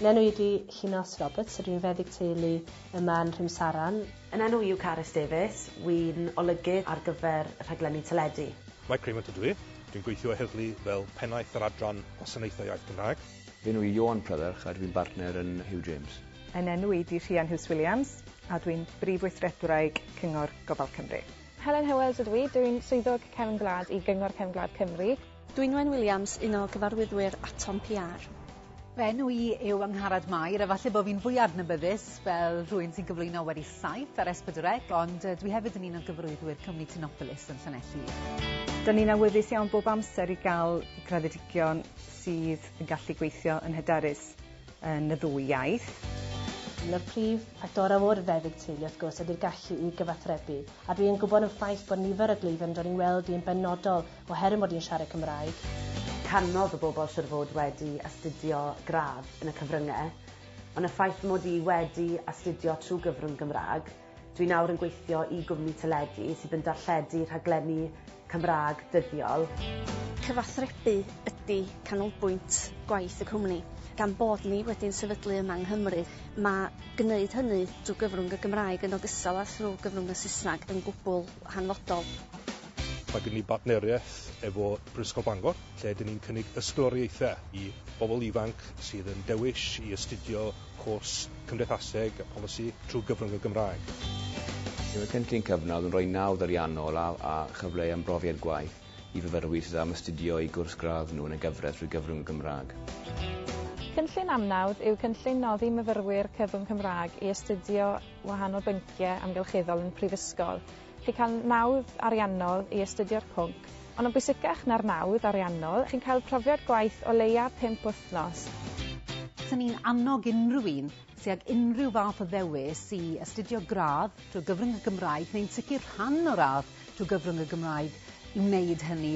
Nenw ydi Llinos Roberts, rwy'n feddyg teulu yma yn Rhymsaran. Yn nenw yw Carys Davies, wy'n olygydd ar gyfer rhaglenni teledu. Mike Raymond ydw i, dwi'n gweithio o heddlu fel Pennaeth yr Adran Gwasanaethau Iaith Gymraeg. Fy enw i Ioan Prydderch a dwi'n bartner yn Huw James. Yn nenw i di Rhian Huws Williams a dwi'n Brif Weithredwraig Cyngor Gofal Cymru. Helen Howells ydw i, dwi'n Swyddog Cefn Gwlad i Gyngor Cefn Gwlad Cymru. Dwynwen Williams, un o gyfarwyddwyr Atom PR. Fy enw i yw Angharad Mair, a falle bod fi'n fwy adnabyddus fel rhywun sy'n cyflwyno wedi saith ar Esbydwrec, ond uh, dwi hefyd yn un o gyfarwyddwyr cwmni Tinopolis yn Llanelli. Dyn ni'n awyddus iawn bob amser i gael graddedigion sydd yn gallu gweithio yn hyderus yn y ddwy iaith. Un o'r prif a gorau o'r feddyg teulu wrth gwrs ydy'r gallu i gyfathrebu, a dwi yn gwybod yn ffaith bod nifer o gleifion yn dod i'n weld i yn benodol Oherwydd mod i'n siarad Cymraeg. Canodd y bobl siŵr fod wedi astudio gradd yn y cyfrynge, ond y ffaith fy mod i wedi astudio trwy gyfrwng Gymraeg, dwi nawr yn gweithio i gwmni teledu sydd yn darlledu rhaglenni Cymraeg dyddiol. Cyfathrebu ydy canolbwynt gwaith y cwmni. Gan bod ni wedi'n sefydlu yma yng Nghymru, mae gwneud hynny drwy gyfrwng y Gymraeg yn ogystal â thrwy gyfrwng y Saesneg yn gwbl hanfodol. Mae gen ni bartneriaeth efo Brifysgol Bangor lle dyn ni'n cynnig ysgoloriaethau i bobl ifanc sydd yn dewis i astudio cwrs Cymdeithaseg a Polisi trwy gyfrwng y Gymraeg. Bydd y cynllun cyfnod yn rhoi nawdd ariannol a a chyfle i ymrofiad gwaith i fyfyrwyr sydd am astudio eu cwrs gradd nhw yn y gyfraith trwy gyfrwng y Gymraeg. Cynllun Amnawdd yw cynllun noddi myfyrwyr cyfrwng Cymraeg i astudio wahanol bynciau amgylcheddol yn y Prifysgol. Chi'n cael nawdd ariannol i astudio'r pwnc, ond yn bwysicach na'r nawdd ariannol, chi'n cael profiad gwaith o leia' pump wythnos. Fyswn ni'n annog unrhyw un sy' ag unrhyw fath o ddewis i astudio gradd trwy gyfrwng y Gymraeg, neu'n sicr rhan o radd trwy gyfrwng y Gymraeg, i wneud hynny.